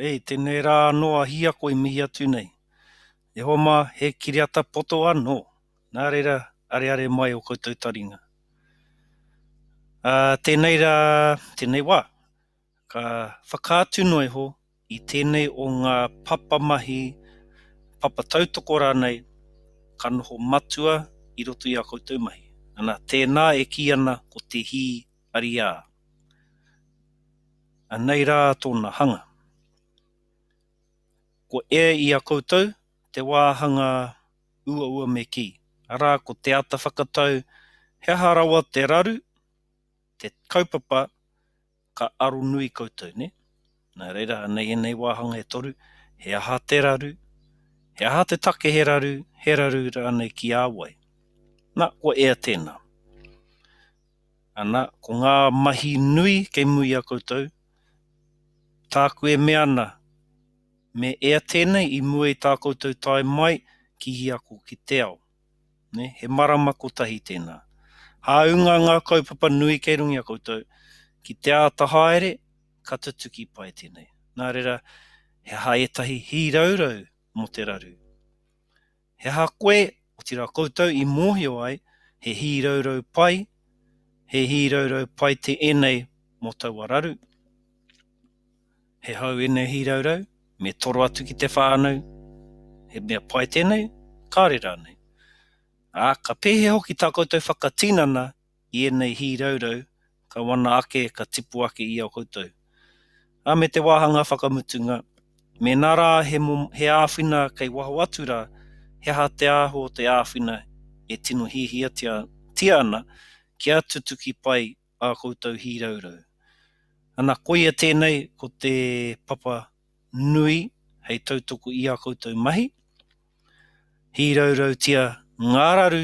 E tenei ra ano a Hia koe mihi atu nei. E hoa ma, he kiriata poto ano, na reira areare mai o koutou taringa. A tenei ra, tenei wa, ka whakaatu noa iho i tenei o nga papa mahi, papa tautoko ranei, ka noho matua i roto i a koutou mahi. Ana, tena e ki ana ko te hi Ariā. Anei rā tōna hanga. Ko E i a koutou, te wāhanga uaua me kī, arā ko te ata whakatau he aha rawa te raru, te kaupapa ka aro nui koutou, nē? Nā reira, anei ēnei wāhanga e toru, he aha te raru, he aha te take he raru, he raru rānei ki a wai? Nā, kua ea tēnā. Ana, ko ngā mahi nui kei muri i a koutou, tāku e mea ana, me ea tēnei i mua i tā koutou tae mai ki ia ako ki te ao. Nē, he marama kotahi tēnā. Hāunga ngā kaupapa nui kei runga i a koutou, ki te āta haere, ka tutuki pai tēnei. Nā reira, he aha ētahi hīraurau mō te raru? He aha koe, otirā koutou i mōhio ai, he hīraurau pai, he hīraurau pai te ēnei mō taua raru? He hou ēnei hīraurau, me toro atu ki te whānau, he mea pai tēnei? Kāre rānei? Ā, ka pēhea hoki tā koutou whakatinana i ēnei hīraurau ka wana ake ka tipu ake i a koutou. Ā, me te wāhanga whakamutunga, mēnā rā he, he āwhina kei waho atu rā, he aha te ahu o te āwhina e tino hiahiatia ana kia tutuki pai ā koutou hīraurau? Ana, koia tēnei ko te papa nui hei tautoko i ā koutou mahi, hīraurautia ngā raru